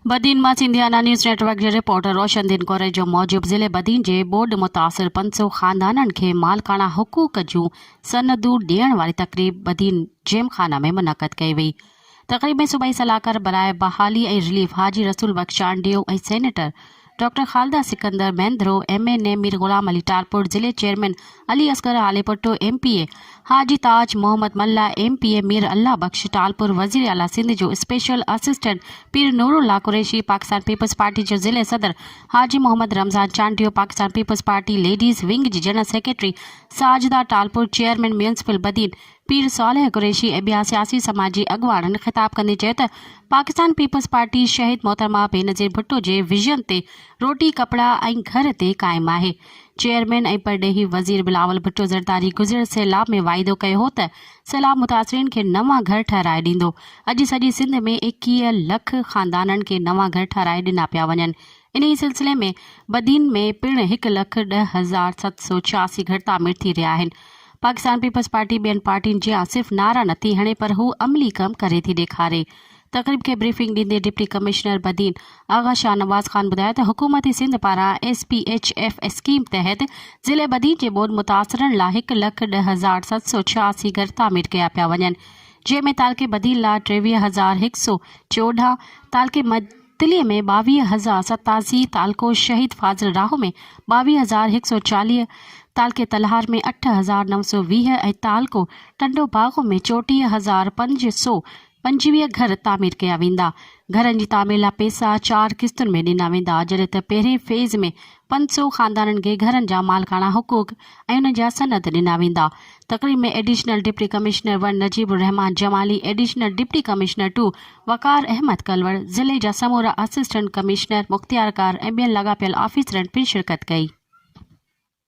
بدين مان Sindhiana news network جي reporter Roshan Din Korejo موجب ضلعي بدين جي ٻوڏ متاثر پنج سؤ خاندانن کي مالڪاڻا حقوق جون سندون ڏيڻ واري تقريب بدين جيم خانه ۾ منعقد ڪئي وئي تقريب ۾ صوبائي صلاحڪار براء بحالي ۽ relief Haji Rasool Bux Chandio ۽ senator doctor Khalida Sikandar Mahendro, M N A, Mir Ghulam Ali Talpur, ضلعي chairman Ali Asghar Halepoto, M P A, Haji Taj Muhammad Mallah, M P A, Mir Allah Bux Talpur, وزير اعليٰ سنڌ جو اسپيشل اسسٽنٽ پير نور الله قريشي، پاڪستان پيپلز پارٽي جو ضلعي صدر حاجي محمد رمضان چانڊيو، پاڪستان پيپلز پارٽي ليڊيز ونگ جي general secretary Sajida Talpur, chairman municipal Badin, Pir Saleh Qureshi ۽ ٻيا سياسي سماجي اڳواڻن خطاب ڪندي چيو ته پاڪستان پيپلز پارٽي شهيد محترمه بينظير ڀٽو جي ويزن تي روٽي ڪپڙا ۽ گهر تي قائم آهي چيئرمين ۽ پرڏيهي وزير بلاول ڀٽو زرداري گذريل سيلاب ۾ واعدو ڪيو هو ته سيلاب متاثرين کي نوان گهر ٺهرائي ڏيندو اڄ سڄي سنڌ ۾ ايڪيهه لک خاندانن کي نوان گهر ٺهرائي ڏنا پيا وڃن انهي سلسلي ۾ بدين ۾ پڻ هڪ لک ڏهه هزار ست سؤ ڇياسي گهر تعمير ٿي رهيا آهن پاڪستان پيپلز پارٽي ٻين پارٽين جيان صرف نعرا نٿي هڻي پر هو عملي ڪم ڪري ٿي ڏيکاري. تقريب کي بريفنگ ڏيندي ڊپٽي ڪمشنر بدين آغا شاهنواز خان ٻڌايو ته حڪومت سنڌ پاران S P H F scheme تحت ضلعي بدين جي ٻوڏ متاثرن لا هڪ لک ڏهه هزار ست سؤ ڇهاسي گهر تعمير ڪيا پيا وڃن جنهن ۾ تعلقي بدين لا ٽيويهه هزار هڪ سؤ چوڏهن تعلقي تلي ۾ ٻاويهه هزار ستاسي، تعلقو شهيد فاضل راهو ۾ ٻاويهه هزار هڪ سؤ چاليهه، تعلقي تلهار ۾ اٺ هزار نو سؤ ويهه ۽ تعلقو ٽنڊو باگو ۾ چوٽيهه هزار پنج سؤ پنجويهه گهر تعمير ڪيا ويندا. گهرن جي تعمير لاء پئسا چار قسطن ۾ ڏنا ويندا جڏهن ته پهرين فيز ۾ پنج سؤ خاندانن کي گهرن جا مالڪاڻا حقوق ۽ انهن جا سند ڏنا ويندا. تقريب ۾ additional deputy commissioner one Najeeb Ur Rehman Jamali, additional deputy commissioner two Waqar Ahmed Kalhoro, ضلعي جا سمورا اسسٽنٽ ڪمشنر، مختيارڪار ۽ ٻين لاڳاپيل آفيسرن پڻ شرڪت ڪئي.